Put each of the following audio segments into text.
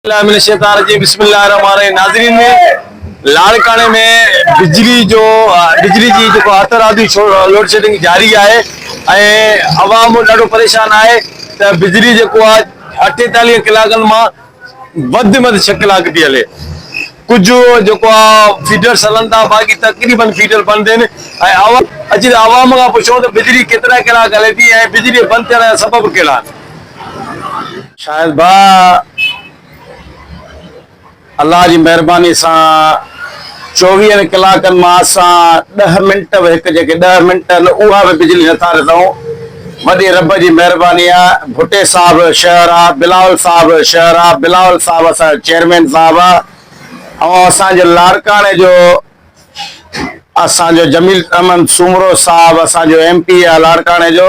بالله من الشيطان الرجيم بسم الله الرحمن الرحيم ناظرين لاڙڪاڻي ۾ بجلي جو بجلي جي جيڪو هٿ رادي لوڊ شيڊنگ جاري آهي ۽ عوام ڏاڍو پريشان آهي ته بجلي جيڪو آهي اٺيتاليهه ڪلاڪن مان وڌ مٿ ڇهه ڪلاڪ ٿي هلي ڪجهه جيڪو آهي فيڊرس هلن ٿا باقي تقريبن فيڊر بند آهن ۽ عوام اچي عوام کان پڇو ته بجلي ڪيترا ڪلاڪ هلي ٿي ۽ بجلي بند ٿيڻ جا سبب ڪهڙا آهن شاهد ڀاء الله جي مهرباني سان چوويهن ڪلاڪن مان اسان ڏه منٽ به هڪ جيڪي ڏه منٽ آهن اها به بجلي نٿا ڏنئون وڏي رب جي مهرباني آ ڀٽي صاحب شهر آ بلاول صاحب شهر آ بلاول صاحب اسان چيئرمين صاحب آ ۽ اسان جو لاڙڪاڻي جو اسان جو جميل احمد سومرو صاحب اسان جو ايم پي آ لاڙڪاڻي جو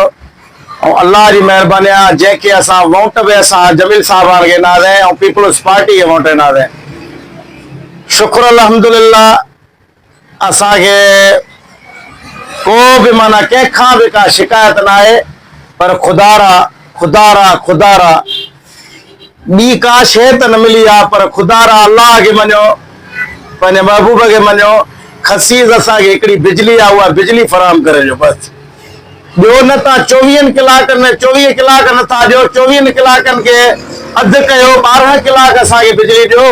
۽ الله جي مهرباني آ جنهن کي اسان وونٽ به اسان جميل صاحباڻ کي ڏنا سين ۽ پيپلز پارٽي کي وونٽ ڏنا سين شڪر الحمدلله اسان کي ڪو به معنی ڪنهن کان به ڪا شڪايت نه آهي پر خدا را خدا را خدا را ٻي ڪا شيء ته نه ملي آ، پر خدا را الله کي مڃيو، پنهنجي محبوب کي مڃيو، خسيس اسان کي هڪڙي بجلي آ، اها بجلي فراهم ڪري ڏيو بس، ٻيو نه تان چوويهن ڪلاڪن ۾ چوويهه ڪلاڪ نه ٿا ڏيو، چوويهن ڪلاڪن کي اڌ ڪيو، ٻارهن ڪلاڪ اسان کي بجلي ڏيو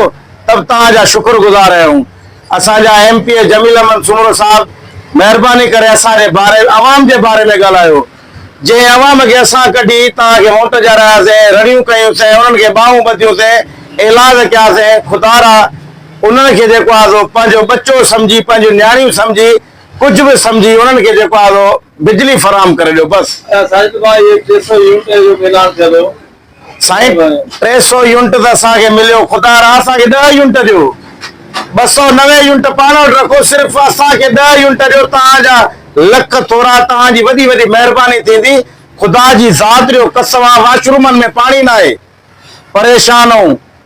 ته به توهان جا شڪر گذار آهيون، اسان جا M P A Jameel Ahmed Soomro صاحب مهرباني ڪري اسان جي باري عوام جي باري ۾ ڳالهايو. جنهن عوام کي اسان ڪڍي توهان کي موٽ ڏيارياسين، رڙيون ڪيونسين، انهن کي ٻانهون ٻڌيونسين، ايلاز ڪياسين، خدارا! انهن کي جيڪو آهي سو پنهنجو ٻچو سمجهي، پنهنجون نياڻيون سمجهي، ڪجهه به سمجهي انهن کي جيڪو آهي سو بجلي فراهم ڪري ڏيو، بس! ساجد ڀاء اهي ٽي سؤ يونٽن جو به اعلان ٿيل هو. سائين ٽي سؤ يونٽ ته اسان کي مليو خدا را اسان کي ڏهه يونٽ ڏيو ٻه سؤ نوي يونٽ پاڻ وٽ رکو صرف اسان کي ڏهه يونٽ ڏيو توهان جا لک ٿورا توهان جي وڏي وڏي مهرباني ٿيندي خدا جي ذات ڏيو قسم آ واشرومن ۾ پاڻي ناهي پريشان آهون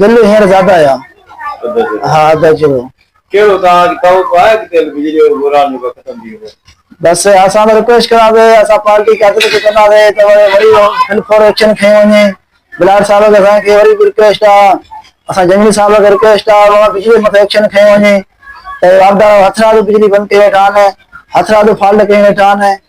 بل هينئر زياده آيا بس اسان ته رڪويسٽ ڪران ٿي اسان پارٽي قيادت کي چوندا سي ته وري فلفور ايڪشن کيون وڃي بلاڙ صاحب کي اسان کي وري به رڪويسٽ آ اسان جنگلي صاحب کي رڪويسٽ آ ته بجلي مٿي ايڪشن کيون وڃي ته واندارو هٿرادو بجلي بند ڪري ويٺا آهن هٿرادو فالٽ ڪري ويٺا آهن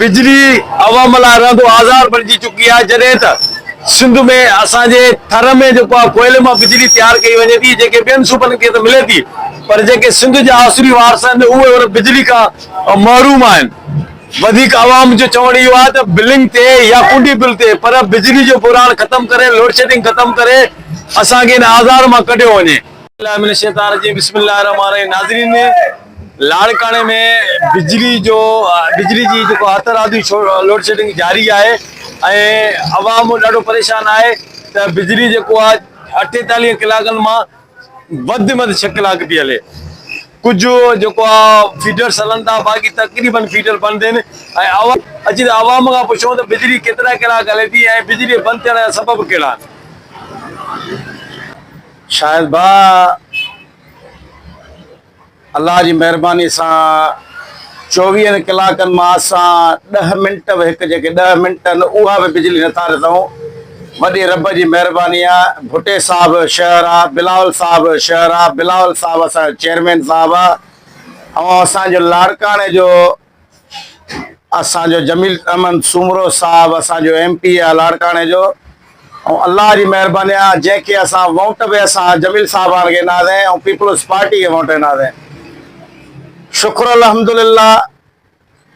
بجلي عوام لاء رهندو آزار بڻجي چڪي آهي جڏهن ته سنڌ ۾ اسان جي ٿر ۾ جيڪو آهي ڪوئلي مان بجلي تيار ڪئي وڃي ٿي جيڪي ٻين صوبن کي ته ملي ٿي پر جيڪي سنڌ جا آسوري وارث آهن ته اهي ان بجلي کان محروم آهن وڌيڪ عوام جو چوڻ اهو آهي ته بلنگ تي يا ڪنڊي بل تي پر بجلي جو بحران ختم ڪري لوڊشيڊنگ ختم ڪري اسان کي ان آزار مان ڪڍيو وڃي. اعوذ بالله من الشيطان الرجيم بسم الله الرحمن الرحيم ناظرين لاڙڪاڻي ۾ بجلي جو بجلي جي جيڪو هر طرح جي لوڊشيڊنگ جاري آهي ۽ عوام ڏاڍو پريشان آهي ته بجلي جيڪو آهي اٺيتاليهن ڪلاڪن مان وڌ ۾ وڌ ڇهه ڪلاڪ پئي هلي ڪجهه جيڪو آهي فيڊرس هلن ٿا باقي تقريبن فيڊر بند آهن ۽ عوام اچي ته عوام کان پڇون ته بجلي ڪيترا ڪلاڪ هلي ٿي ۽ بجلي بند ٿيڻ جا سبب ڪهڙا آهن شاهد ڀاء الله جي مهرباني سان چوويهن ڪلاڪن مان اسان ڏهه منٽ به هڪ جيڪي ڏهه منٽ آهن اها به بجلي نه ٿا رٿئون وڏي رب جي مهرباني آ ڀٽي صاحب شهر آ بلاول صاحب شهر آ بلاول صاحب اسان جو چيئرمين صاحب آ ۽ اسان جو لاڙڪاڻي جو اسان جو جميل احمد سومرو صاحب اسان جو ايم پي آ لاڙڪاڻي جو ۽ الله جي مهرباني آ جنهن کي اسان ووٽ به اسان جميل صاحب آڻ کي نازين ۽ پيپلز پارٽي کي ووٽ نازين شکر الحمدلله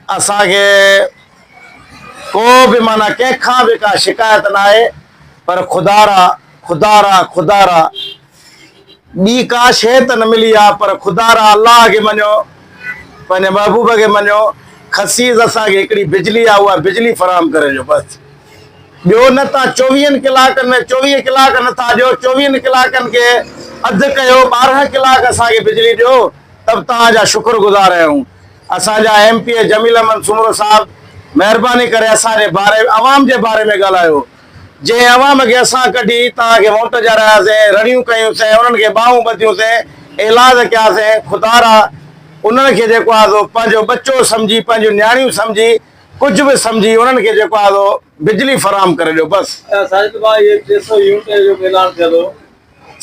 اسان کي ڪو به مانا ڪنهن کان به ڪا شڪايت نه آهي پر خدا را خدا را خدا را ٻي ڪا شيء ته نه ملي آ، پر خدا را الله کي مڃيو، پنهنجي محبوب کي مڃيو، خسيس اسان کي هڪڙي بجلي آ، اها بجلي فراهم ڪري ڏيو بس، ٻيو نه تان چوويهن ڪلاڪن ۾ چوويهه ڪلاڪ نه ٿا ڏيو، چوويهن ڪلاڪن کي اڌ ڪيو، ٻارهن ڪلاڪ اسان کي بجلي ڏيو ته به توهان جا شڪر گذار آهيون، اسان جا M P A Jameel Ahmed Soomro صاحب مهرباني ڪري اسان جي باري عوام جي باري ۾ ڳالهايو. جنهن عوام کي اسان ڪڍي توهان کي ووٽ ڏيارياسين، رڙيون ڪيونسين، انهن کي ٻانهون ٻڌيونسين، ايلاز ڪياسين، خدارا انهن کي جيڪو آهي سو پنهنجو ٻچو سمجهي، پنهنجون نياڻيون سمجهي، ڪجهه به سمجهي انهن کي جيڪو آهي سو بجلي فراهم ڪري ڏيو بس. ساجد ڀاء اهي ٽي سؤ يونٽن جو به اعلان ٿيل هو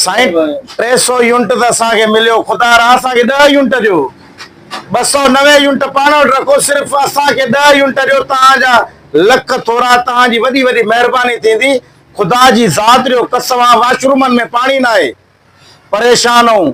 سائين ٽي سو يونٽ ته اسان کي مليو خدا را اسان کي ڏهه يونٽ ڏيو ٻه سؤ نوي يونٽ پاڻ وٽ رکو صرف اسان کي ڏهه يونٽ ڏيو توهان جا لک ٿورا توهان جي وڏي وڏي مهرباني ٿيندي خدا جي ذات ريو قسم آ واشرومن ۾ پاڻي ناهي پريشان آهون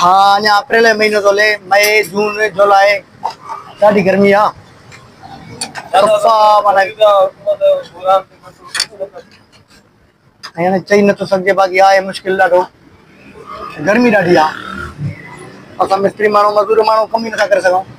ها اڃا اپريل جو مهينو ٿو هلي مئي جون جولاء ڏاڍي گرمي آ هاڻي چئي نٿو سگهجي باقي آهي مشڪل ڏاڍو گرمي ڏاڍي آ اسان مستري ماڻهو مزور ماڻهو ڪم ئي نٿا ڪري سگهون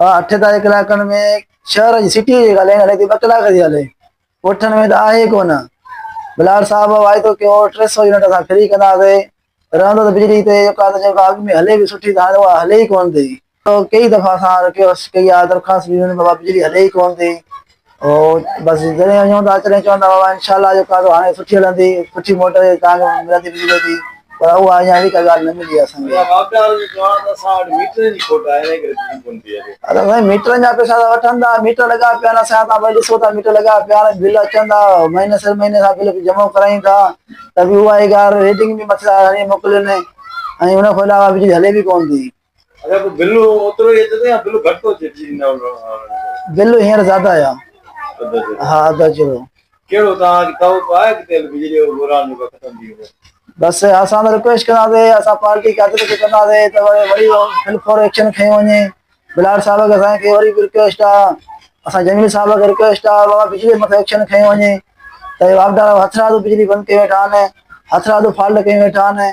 ها اٺ تائين ڪلاڪن ۾ شهر جي سٽيء جي ڳالهه هلي ٿي ٻه ڪلاڪ ٿي هلي اٺن ۾ ته آهي ڪونه بلاڙ صاحب واعدو ڪيو هو ٽي سؤ يونٽ اسان فري ڪنداسي رهندو ته بجلي تي جيڪا ته جيڪا اڳ ۾ هلي پئي سٺي ته هاڻي اها هلي ئي ڪونه ٿي ڪيئي دفعا اسان رڪويسٽ ڪئي آهي درخواست ڏنيون آهن بابا بجلي هلي ئي ڪونه ٿي او بس جڏهن وڃون ٿا تڏهن چوندا هئا انشاء الله جو ڪارو هاڻي سٺي هلندي سٺي موٽر تان ملندي بجلي جي پر اها اڃا اهڙي ڪا ڳالهه نه ملي آهي اسان کي ادا سائين ميٽرن جا پئسا ته وٺن ٿا ميٽر لڳا پيا آهن اسان تان ڏسو ٿا ميٽر لڳا پيا آهن بل اچن ٿا مهيني سر مهيني اسان بل جمع ڪرايون ٿا ته بي اها اي ڳالهه ريڊنگ بي مٿي تان هڻي موڪلين ۽ ان کان علاوه بجلي هلي بي ڪون ٿي بل هينئر زياده آيا ها اڌ اچي ويو ڪهڙو توهان کي توقع آهي ته تيل بجلي جو بحران جيڪو ختم ٿي ويندو بس اسان ته رڪويسٽ ڪنداسين اسان پارٽي قيادت کي چونداسين ته وري بل فور ايڪشن کيو وڃي بلاڙ صاحب کي اسان کي وري به رڪويسٽ آ اسان جميل صاحب کي رڪويسٽ آ بابا بجلي مٿو ايڪشن کيو وڃي ته واپڊا هٿرادو بجلي بند ڪيو ويٺا آهن هٿرادو فالٽ ڪيو ويٺا آهن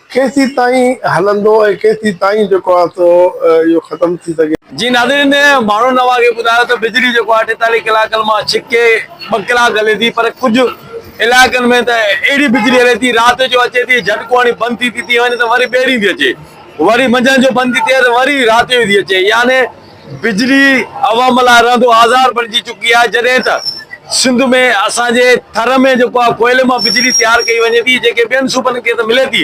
ڪيسين تائين هلندو ۽ ڪيسين تائين جيڪو آهي سو اهو ختم ٿي سگهي. جي ناظرين ماڻهو نوا کي ٻڌايو ته بجلي جيڪو آهي اٺيتاليهه ڪلاڪن مان ڇڪي ٻه ڪلاڪ هلي ٿي پر ڪجهه علائقن ۾ ته اهڙي بجلي هلي ٿي رات جو اچي ٿي جهٽڪو هڻي بند ٿي ٿي ٿي وڃي ته وري ٻيهرين ٿي اچي وري منجهند جو بند ٿي ٿئي ته وري رات جو ٿي اچي يعني بجلي عوام لاء رهندو آزار بڻجي چڪي آهي جڏهن ته سنڌ ۾ اسان جي ٿر ۾ جيڪو آهي ڪوئلي مان بجلي تيار ڪئي وڃي ٿي جيڪي ٻين صوبن کي ته ملي ٿي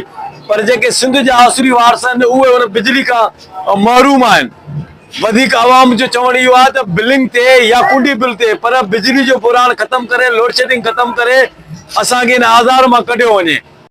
پر جيڪي سنڌ جا آسوري وارث آهن اهي ان بجلي کان محروم آهن وڌيڪ عوام جو چوڻ اهو آهي ته بلنگ تي يا ڪنڊي بل تي پر بجلي جو بحران ختم ڪري لوڊشيڊنگ ختم ڪري اسان کي ان آزار مان ڪڍيو وڃي.